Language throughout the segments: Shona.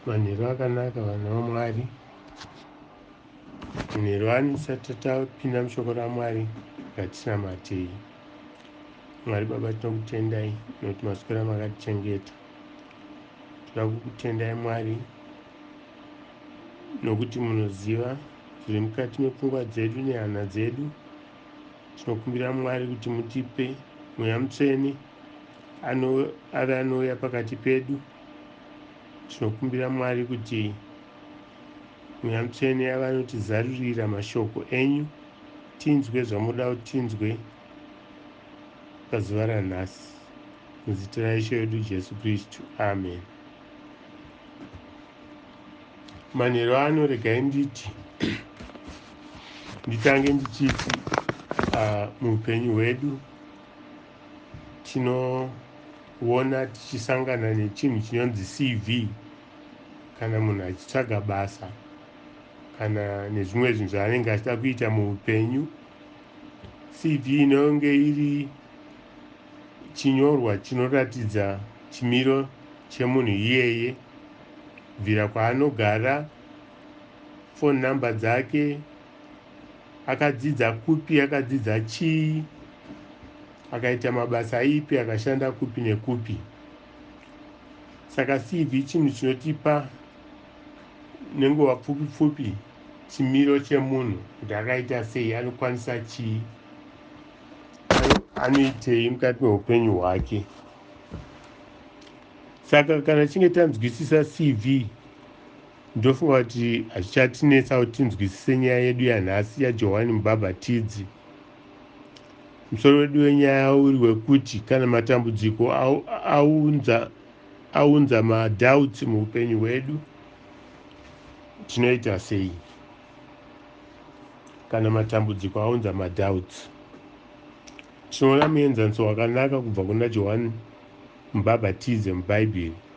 manheru akanaka vanhu vamwari manheru anisati tapinda mushoko ramwari ngatinamatei mwari baba tinokutendai nokuti maswera makatichengeta toda kukutendai mwari nokuti munoziva zviri mukati mepfungwa dzedu nehana dzedu tinokumbira mwari kuti mutipe mweya mutsvene ano, ave anouya pakati pedu. Tinokumbira Mwari kuti mweya mutsvene yava anotizarurira mashoko enyu tinzwe zvamoda kuti tinzwe pazuva ranhasi muzita raishe wedu jesu kristu amen manheru ano regai nditi nditange ndichiti uh, muupenyu hwedu tinoona tichisangana nechinhu chinonzi cv kana munhu achitsvaga basa kana nezvimwe zvinhu zvaanenge achida kuita muupenyu cv inonge iri chinyorwa chinoratidza chimiro chemunhu iyeye bvira kwaanogara foni number dzake Akadzidza kupi, akadzidza chii, akaita mabasa ipi, akashanda kupi nekupi. Saka CV chinhu chinotipa nenguva pfupi pfupi chimiro chemunhu kuti akaita sei, anokwanisa chii, anoitei mukati meupenyu hwake. Saka kana chinge tanzwisisa CV Ndofunga kuti hazvichatinetsa kuti tinzwisise nyaya yedu yanhasi yaJohwani Mubhabhatidzi. Musoro wedu wenyaya uri wekuti kana matambudziko aunza, aunza madoubts muupenyu hwedu, tinoita sei? Kana matambudziko aunza madoubts, tinoona muenzaniso wakanaka kubva kuna Johwani Mubhabhatidzi muBhaibheri.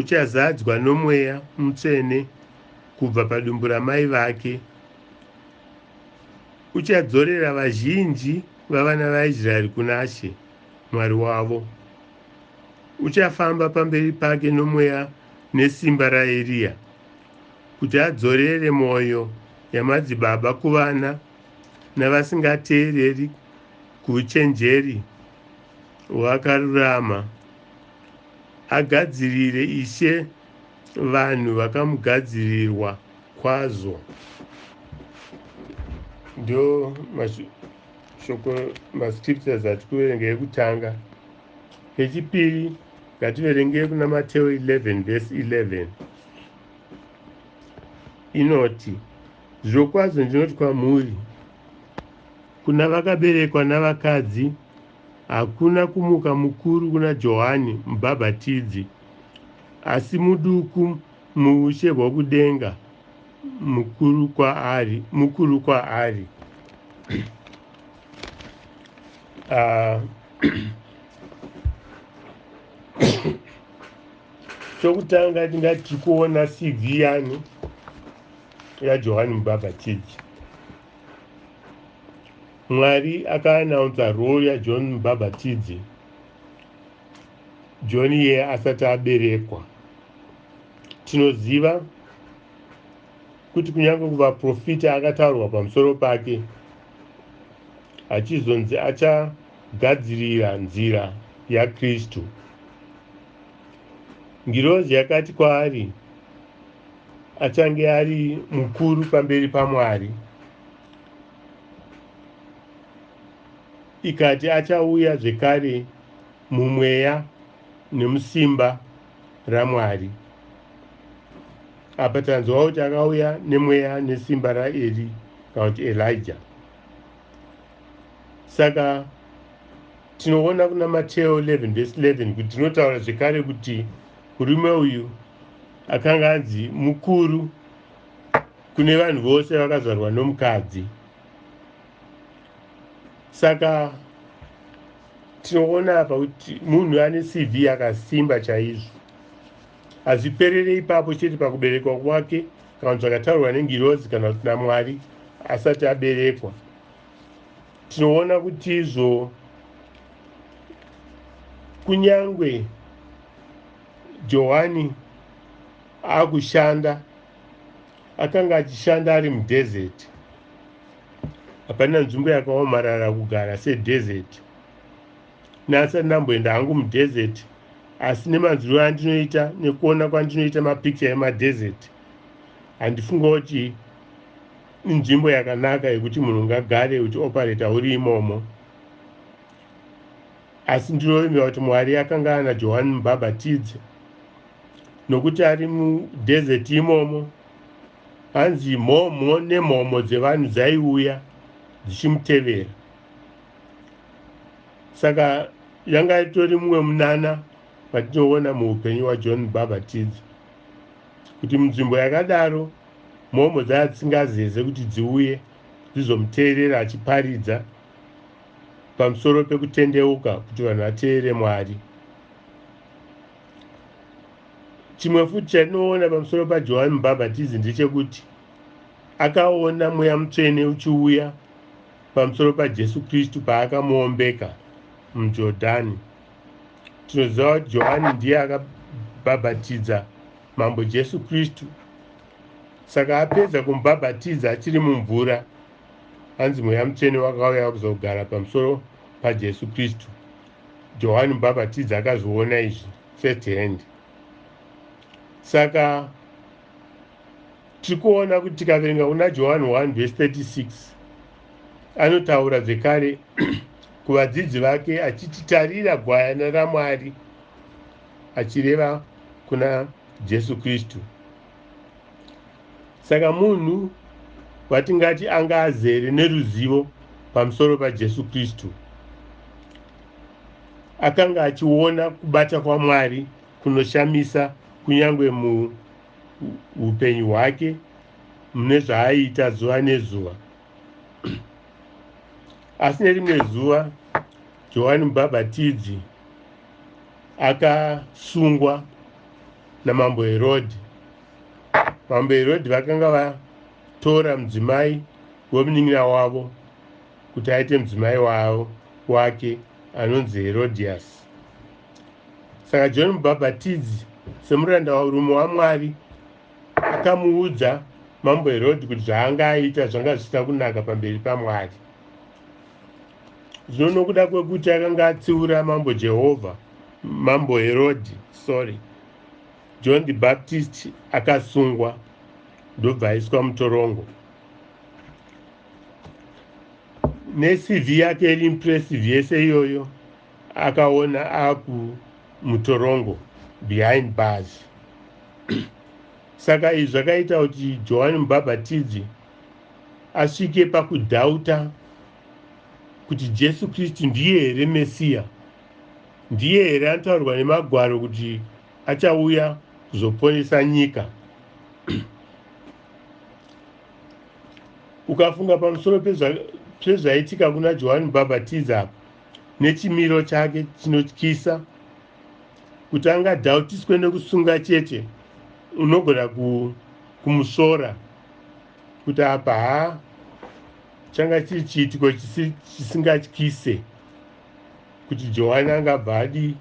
Uchazadzwa nomweya mutsvene kubva padumbu ramai vake. Uchadzorera vazhinji vavana vaIsraeri kuna She, Mwari wavo. Uchafamba pamberi pake nomweya nesimba raEriya, kuti adzorere mwoyo yamadzibaba kuvana navasingateereri kuuchenjeri hwakarurama. Agadzirire Ishe vanhu vakamugadzirirwa kwazvo. Ndo mashoko mascriptures ati kuverenga ekutanga. Kechipiri ngativerenge kuna Mateo 11 verse 11 inoti zvirokwazvo ndinoti kwamuri kuna vakaberekwa navakadzi Hakuna kumuka mukuru kuna Johani Mubhabhatidzi, asi muduku muushe hwokudenga mukuru kwaari. Mukuru kwaari. Ah, chokutanga tingati tiri kuona CV yani yaJohani Mubhabhatidzi. Mwari aka announcer role ya John Mubhabhatidzi John iyeye asati aberekwa. Tinoziva kuti kunyange kuvaprofita akataurwa pamusoro pake achizonzi achagadzirira nzira yaKristu. Ngirozi yakati kwaari achange ari mukuru pamberi paMwari. ikati achauya zvekare mumweya nemusimba ramwari apa tanzwa kuti akauya nemweya nesimba raeri kana kuti elija saka tinoona kuna mateo 11 vese 11 kuti tinotaura zvekare kuti murume uyu akanga anzi mukuru kune vanhu vose vakazvarwa nomukadzi saka tinoona apa kuti munhu ane cv yakasimba chaizvo hazviperere ipapo chete pakuberekwa kwake kana zvakataurwa nengirozi kana kuti namwari asati aberekwa tinoona kuti izvo kunyange johani akushanda akanga achishanda ari mudhezeti hapana nzvimbo yakaomarara kugara sedhezeti neasati ndamboenda hangu mudhezeti asi nemanzwiro andinoita nekuona kwandinoita mapikicha emadhezeti handifunga kuti inzvimbo yakanaka yekuti munhu ngagare uchiopareta uri imomo Asi ndinoyemera kuti Mwari akanga ana Johani Mubhabhatidzi, nokuti ari mudhezeti imomo, hanzi mhomho nemhomho dzevanhu dzaiuya dzichimutevera. Saka yanga itori mumwe munana matinoona muupenyu hwaJohn Mubhabhatidzi, kuti munzvimbo yakadaro mhomho dzaya dzisingazeze kuti dziuye dzizomuteerera achiparidza. pamusoro pekutendeuka kuti vanhu vateerere mwari chimwe futi chatinoona pamusoro pajohani mubhabhatizi ndechekuti akaona mweya mutsvene uchiuya pamusoro pajesu kristu paakamuombeka mujordhani tinoziva kuti johani ndiye akabhabhatidza mambo jesu kristu saka apedza kumubhabhatidza achiri mumvura Hanzi mweya mutsvene wakauya kuzogara pamusoro paJesu Kristu. Johani Mubhabhatidzi akazviona izvi first hand. Saka tiri kuona kuti tikaverenga kuna Johani 1 vhesi 36 anotaura zvekare kuvadzidzi vake achiti tarira gwayana raMwari achireva kuna Jesu Kristu. saka munhu watingati anga azere neruzivo pamusoro pajesu kristu akanga achiona kubata kwamwari kunoshamisa kunyange muupenyu hwake mune zvaaiita zuva nezuva asi nerimwe zuva johani mubhabhatidzi akasungwa namambo Herodhi. Mambo Herodhi vakanga vatora mudzimai wemunin'ina wavo kuti aite mudzimai wavo wake anonzi Herodhiasi. Saka John Mubhabhatidzi semuranda warume waMwari akamuudza mambo Herodhi kuti zvaanga aita zvanga zvisina kunaka pamberi paMwari. Zvino nokuda kwekuti akanga atsiura mambo Jehovha, mambo Herodhi, sorry, John the Baptist akasungwa ndobva aiswa mutorongo. NeCV yake iri impressive yese iyoyo akaona aku mutorongo behind bars. Saka izvi zvakaita kuti Johani Mubhabhatidzi asvike pakudhauta kuti Jesu Kristu ndiye here Mesiya? Ndiye here anotaurwa nemagwaro kuti achauya kuzoponesa nyika? Ukafunga pamusoro pezvaitika kuna Johani Mubhabhatidzi apa nechimiro chake chinotyisa kuti angadhautiswe nekusunga chete unogona kumusvora kuti apa haa changa chiri chiitiko chisingatyise kuti johani angabva adi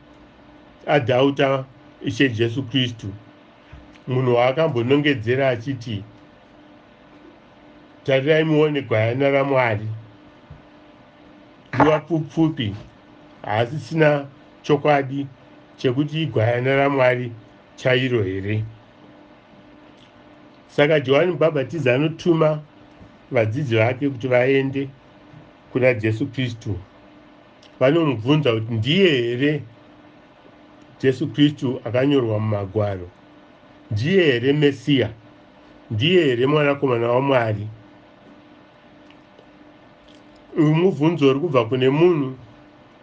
adhauta ishe jesu kristu munhu waakambonongedzera achiti tarirai muone gwayana ramwari nguva pfupfupi haasisina chokwadi chekuti igwayana ramwari chairo here Saka Johani Mubhabhatidzi anotuma vadzidzi vake kuti vaende kuna Jesu Kristu. Vanomubvunza kuti ndiye here Jesu Kristu akanyorwa mumagwaro? Ndiye here Mesiya? Ndiye here mwanakomana waMwari? Uyu mubvunzo uri kubva kune munhu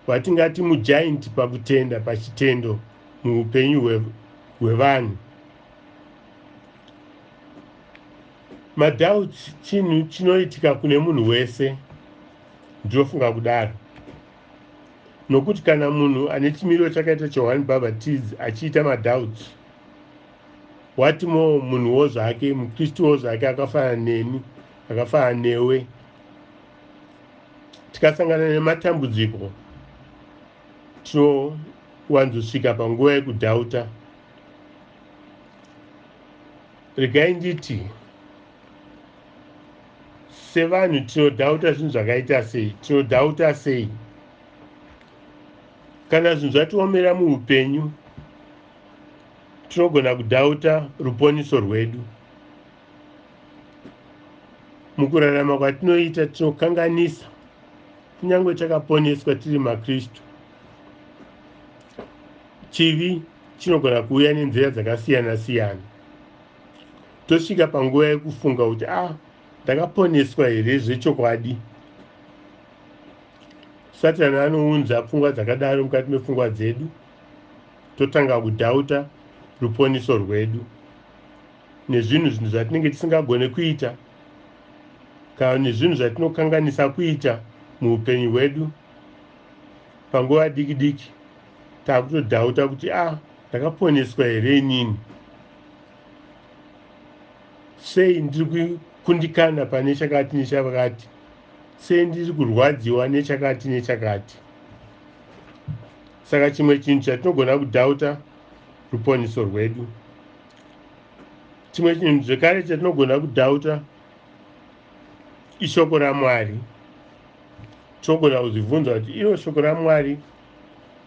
watingati mujainti pakutenda pachitendo muupenyu hwevanhu. madoubts chinhu chinoitika kune munhu wese ndinofunga kudaro nokuti kana munhu ane chimiro chakaita chohani bhabhatidzi achiita madoubts wati mo munhuwo zvake mukristuwo zvake akafanana neni akafanana newe tikasangana nematambudziko tinowanzosvika panguva yekudhauta regai nditi sevanhu tinodhauta zvinhu zvakaita sei tinodhauta sei kana zvinhu zvatiomera muupenyu tinogona kudhauta ruponiso rwedu mukurarama kwatinoita tinokanganisa kunyange takaponeswa tiri makristu chivi chinogona kuuya nenzira dzakasiyana siyana tosvika panguva yekufunga kuti ah ndakaponeswa here zvechokwadi satani anounza pfungwa dzakadaro mukati mepfungwa dzedu totanga kudhauta ruponiso rwedu nezvinhu zvinhu zvatinenge tisingagone kuita kana nezvinhu zvatinokanganisa kuita muupenyu hwedu panguva diki diki takutodhauta kuti a ah, ndakaponeswa here inini sei ndiri kundikana pane chakati nechakati sei ndiri kurwadziwa nechakati nechakati saka chimwe chinhu chatinogona kudhauta ruponiso rwedu chimwe chinhu zvekare chatinogona kudhauta ishoko ramwari tinogona kuzvibvunza kuti iro shoko ramwari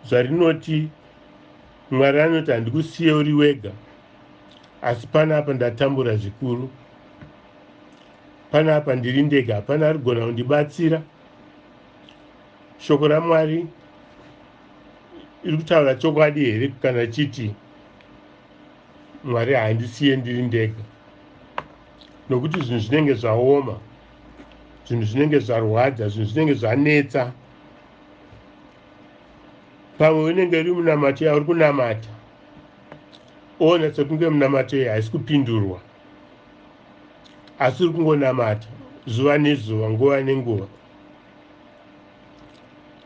zvarinoti mwari anoti handikusiye uri wega asi panapa ndatambura zvikuru panapa ndiri ndega hapana ari kugona kundibatsira shoko ramwari iri kutaura chokwadi here kana chiti mwari handisiye ndiri ndega nokuti zvinhu zvinenge zvaoma zvinhu zvinenge zvarwadza zvinhu zvinenge zvanetsa pamwe unenge uri munamato yauri kunamata oona sekunge munamato iyi haisi kupindurwa asi uri kungonamata zuva nezuva nguva nenguva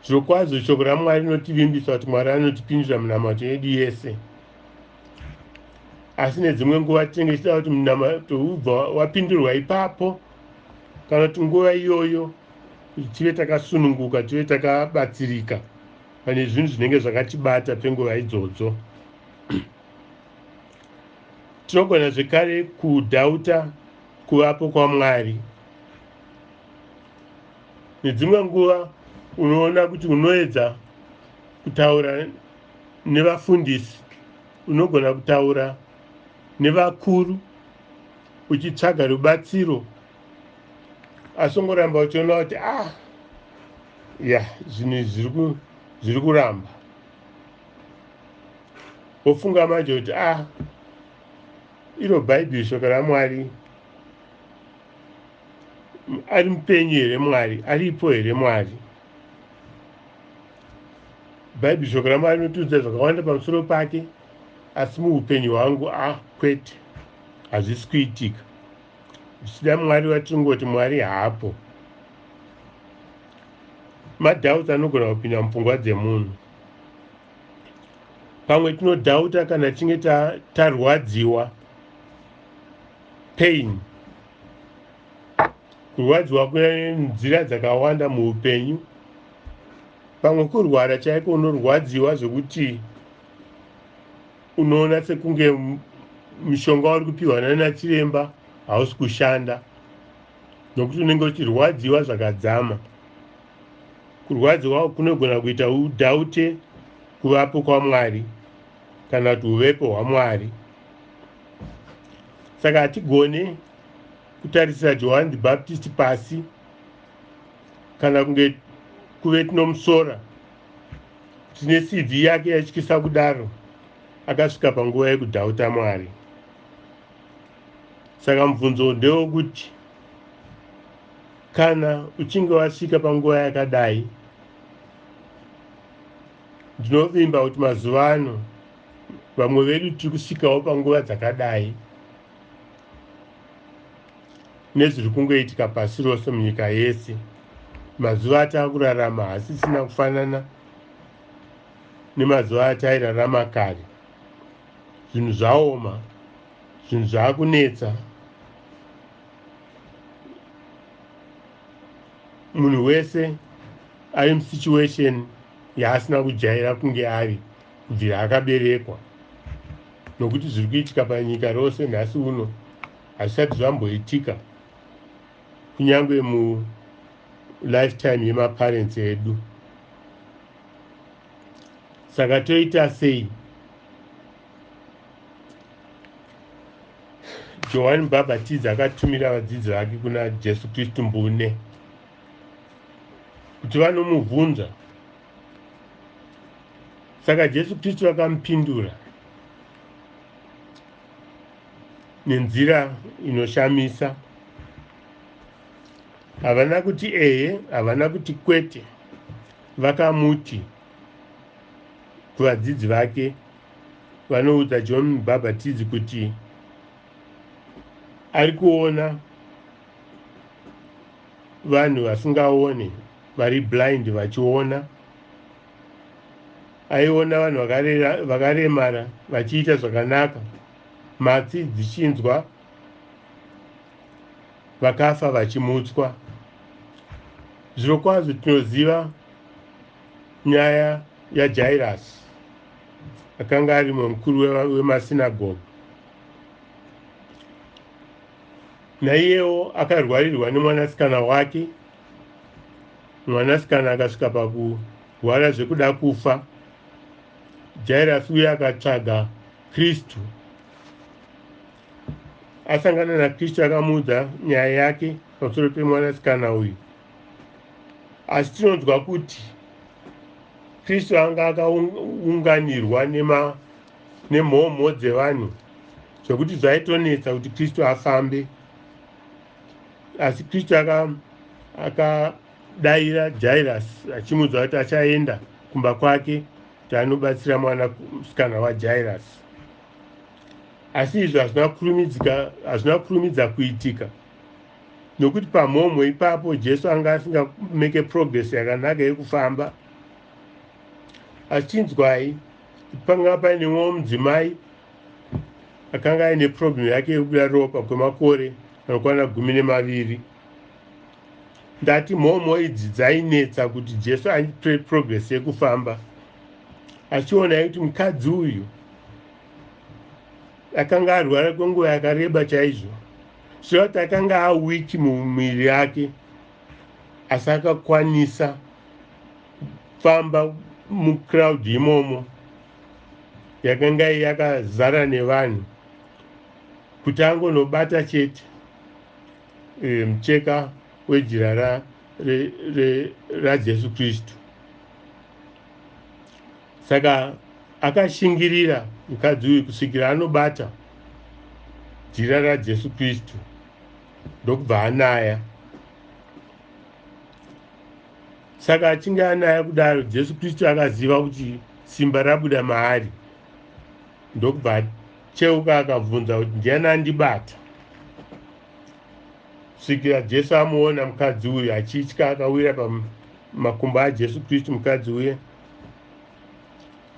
zvokwazvo shoko ramwari rinotivimbisa kuti mwari anotipindura munamato yedu yese asi nedzimwe nguva tinenge tichida kuti munamato ubva wapindurwa ipapo kana kuti nguva iyoyo kuti tive takasununguka tive takabatsirika pane zvinhu zvinenge zvakatibata penguva idzodzo tinogona zvekare kudhauta kuvapo kwamwari nedzimwe nguva unoona kuti unoedza kutaura nevafundisi, unogona kutaura nevakuru uchitsvaga rubatsiro, asi ungoramba uchiona kuti ah, ya zvinhu izvi zviri kuramba, wofunga manje kuti ah, iro bhaibheri shoko ramwari ari mupenyu here mwari aripo here mwari bhaibheri shoko ramwari rinotiudza zvakawanda pamusoro pake asi muupenyu hwangu a ah, kwete hazvisi kuitika zvichida mwari vatingoti mwari haapo madhauti anogona kupinda mupfungwa dzemunhu pamwe tinodhauta kana tinge tarwadziwa pain kurwadziwa kwenzira dzakawanda muupenyu pamwe kurwara chaiko unorwadziwa zvekuti unoona sekunge mushonga wari kupiwa nanachiremba hausi kushanda nokuti unenge uchirwadziwa zvakadzama kurwadziwa kunogona kuita udhaute kuvapo kwamwari kana kuti uvepo hwamwari saka hatigone kutarisira johani the baptist pasi kana kunge kuve tinomusora kuti necv yake yaityisa kudaro akasvika panguva yekudhauta mwari saka mubvunzo ndewokuti kana uchinge wasvika panguva yakadai ndinovimba kuti mazuva ano vamwe vedu tiri kusvikawo panguva dzakadai nezviri kungoitika pasi rose munyika yese mazuva ataakurarama hasisina kufanana nemazuva atairarama kare zvinhu zvaoma zvinhu zvaakunetsa munhu wese ari musituation yaasina kujaira kunge ari kubvira akaberekwa nokuti zviri kuitika panyika rose nhasi uno hazvisati zvamboitika kunyange mulifetime yemaparents edu saka toita sei johani mubhabhatidzi akatumira vadzidzi vake kuna jesu kristu mbune kuti vanomubvunza saka jesu kristu vakamupindura nenzira inoshamisa havana kuti eye havana kuti kwete vakamuti kuvadzidzi vake vanoudza john mubhabhatidzi kuti ari kuona vanhu vasingaone vari blind vachiona aiona vanhu vakaremara vachiita zvakanaka matsi dzichinzwa vakafa vachimutswa zvirokwazvo tinoziva nyaya yajairasi akanga ari mumwe mukuru wemasinagogi naiyewo akarwarirwa nemwanasikana wake mwanasikana akasvika pakurwara zvekuda kufa jairasi uye akatsvaga kristu asangana nakristu akamuudza nyaya yake pamusoro pemwanasikana uyu asi tinonzwa kuti kristu anga akaunganirwa nema nemhomho dzevanhu zvekuti zvaitonetsa kuti kristu afambe asi kristu akadaira aka jairas achimuudza kuti achaenda kumba kwake kuti anobatsira mwana musikana wajairas asi izvi hazvina kurumidzika hazvina kurumidza kuitika nokuti pamhomho ipapo jesu anga asinga make progress yakanaka yekufamba asi chinzwai Panga paine mumwe mudzimai akanga aine problem yake yekubuda ropa kwemakore anokwana gumi nemaviri ndati mhomho idzi dzainetsa kuti jesu aitore progress yekufamba achiona kuti mukadzi uyu akanga arwara kwenguva yakareba chaizvo zvichireva kuti akanga awiki mumuviri yake asi akakwanisa kufamba mucrowd imomo yakanga yakazara nevanhu kuti angonobata chete e, mucheka wejira ra, re, re, rajesu kristu saka akashingirira mukadzi uyu kusvikira anobata jira rajesu kristu ndokubva anaya Saka achinge anaya kudaro, Jesu Kristu akaziva kuti simba rabuda maari, ndokubva acheuka akabvunza kuti ndiani andibata. Kusvikira Jesu amuona mukadzi uyu achitya, akawira pamakumbo aJesu Kristu mukadzi uye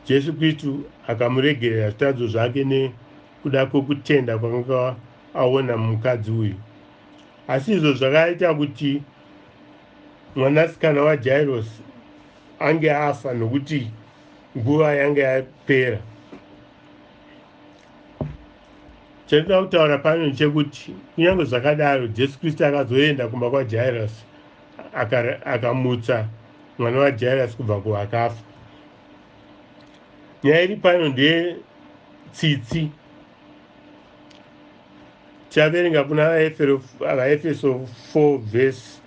Jesu Kristu akamuregerera zvitadzo zvake nekuda kwekutenda kwanga aona mukadzi uyu. Asi izvo zvakaita kuti Mwanasikana waJairosi ange afa nokuti nguva yange yapera. Chandinoda kutaura pano ndechekuti kunyange zvakadaro Jesu Kristu akazoenda kumba kwaJairosi akamutsa mwana waJairosi kubva kuvakafa. Nyaya iri pano ndeye tsitsi tichaverenga kuna vaefeso 4 vhesi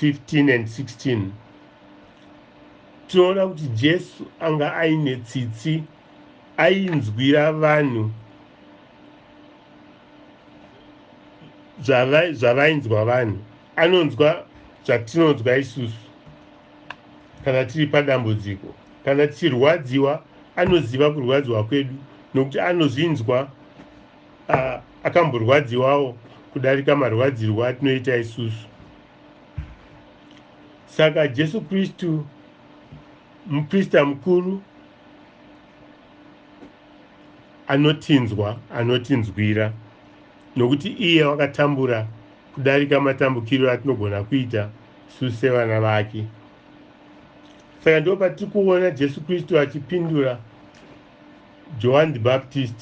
15 and 16 tinoona kuti jesu anga aine tsitsi ainzwira vanhu zvavainzwa vanhu anonzwa zvatinonzwa isusu kana tiri padambudziko. Kana tichirwadziwa, anoziva kurwadziwa kwedu nokuti anozvinzwa uh, akamborwadziwawo kudarika marwadzirwo atinoita isusu. Saka Jesu Kristu muprista mukuru anotinzwa, anotinzwira. Nokuti iye wakatambura kudarika matambukiro atinogona kuita isu sevana vake. Saka ndipo patiri kuona Jesu Kristu achipindura Johani the Baptist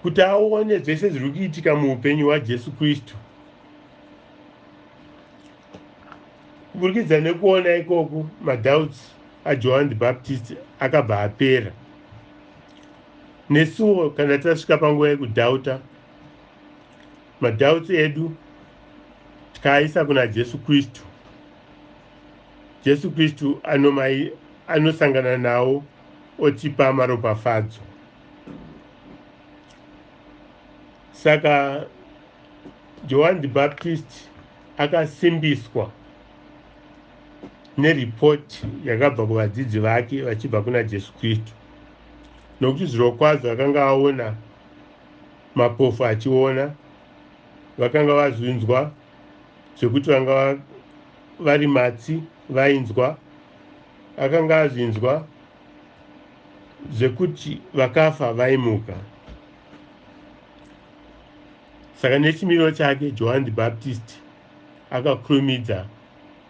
kuti aone zvese zviri kuitika muupenyu hwaJesu Kristu. Kuburikidza nekuona ikoku, madoubts aJohani the Baptist akabva apera. nesuwo kana tasvika panguva yekudhauta madhauts edu tikaaisa kuna jesu kristu jesu kristu anomai anosangana nawo otipa maropafadzo saka johani the baptist akasimbiswa neripoti yakabva kuvadzidzi vake vachibva kuna jesu kristu nokuti zvirokwazvo akanga aona mapofu achiona vakanga vazvinzwa zvekuti vanga vari matsi vainzwa akanga azvinzwa zvekuti vakafa vaimuka saka nechimiro chake johani the baptist akakurumidza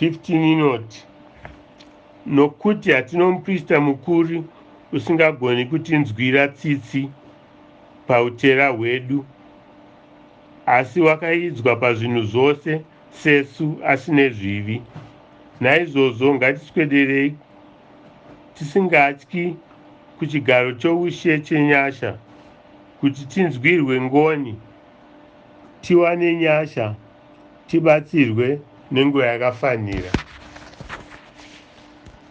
15 inoti nokuti hatino muprista mukuru usingagoni kutinzwira tsitsi pautera hwedu asi wakaidzwa pazvinhu zvose sesu asine zvivi naizvozvo ngatiswederei tisingatyi kuchigaro choushe chenyasha kuti tinzwirwe ngoni tiwane nyasha tibatsirwe nenguva yakafanira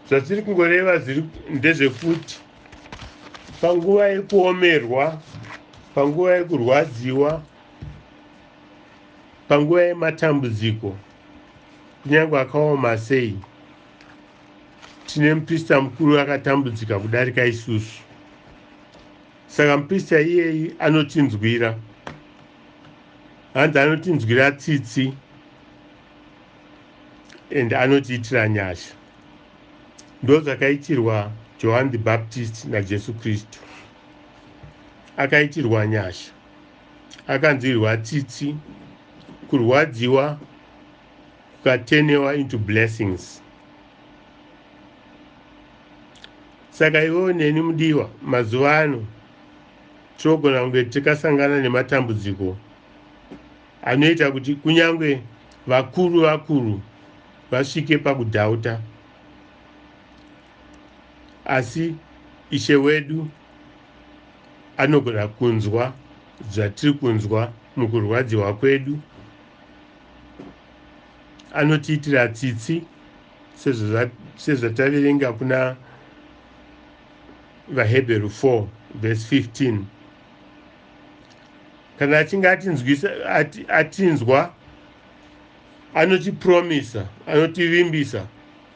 zvatiri kungoreva ndezvekuti panguva yekuomerwa panguva yekurwadziwa panguva yematambudziko kunyange akaoma sei tine muprista mukuru akatambudzika kudarika isusu saka muprista iyeyi anotinzwira hanzi anotinzwira tsitsi and anotiitira nyasha ndozvakaitirwa johan the baptist najesu kristu akaitirwa nyasha akanzwirwa tsitsi kurwadziwa kukatenewa into blessings saka iwewo neni mudiwa mazuva ano Tinogona kunge tikasangana nematambudziko anoita kuti kunyange vakuru vakuru vasvike pakudhauta. Asi Ishe wedu anogona kunzwa zvatiri kunzwa mukurwadziwa kwedu. Anotiitira tsitsi sezvataverenga kuna VaHebheru 4 vhesi 15 kana achinge atinzwisa ati, atinzwa anotipromisa anotivimbisa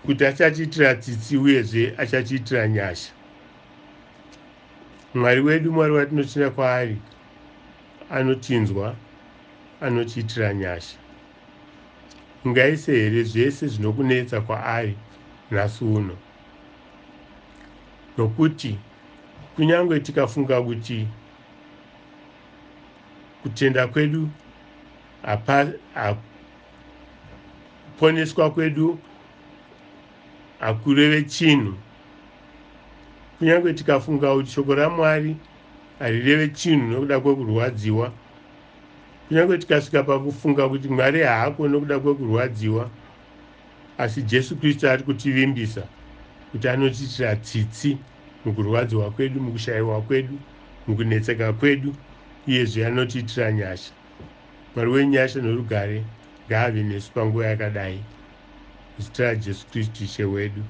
kuti achatiitira tsitsi uyezve achatiitira nyasha mwari wedu mwari watinotenda kwaari anotinzwa anotiitira nyasha ungaise here zvese zvinokunetsa kwaari nhasi uno nokuti kunyange tikafunga kuti kutenda kwedu kuponeswa kwedu hakureve chinhu kunyange tikafunga kuti shoko ramwari harireve chinhu nokuda kwekurwadziwa kunyange tikasvika pakufunga kuti mwari haako nokuda kwekurwadziwa Asi Jesu Kristu ari kutivimbisa kuti anotiitira tsitsi mukurwadziwa kwedu, mukushayiwa kwedu, mukunetseka kwedu, uyezve anotiitira nyasha. Mwari wenyasha norugare ngaave nesu panguva yakadai. Muzita raJesu Kristu Ishe wedu.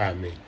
Ameni.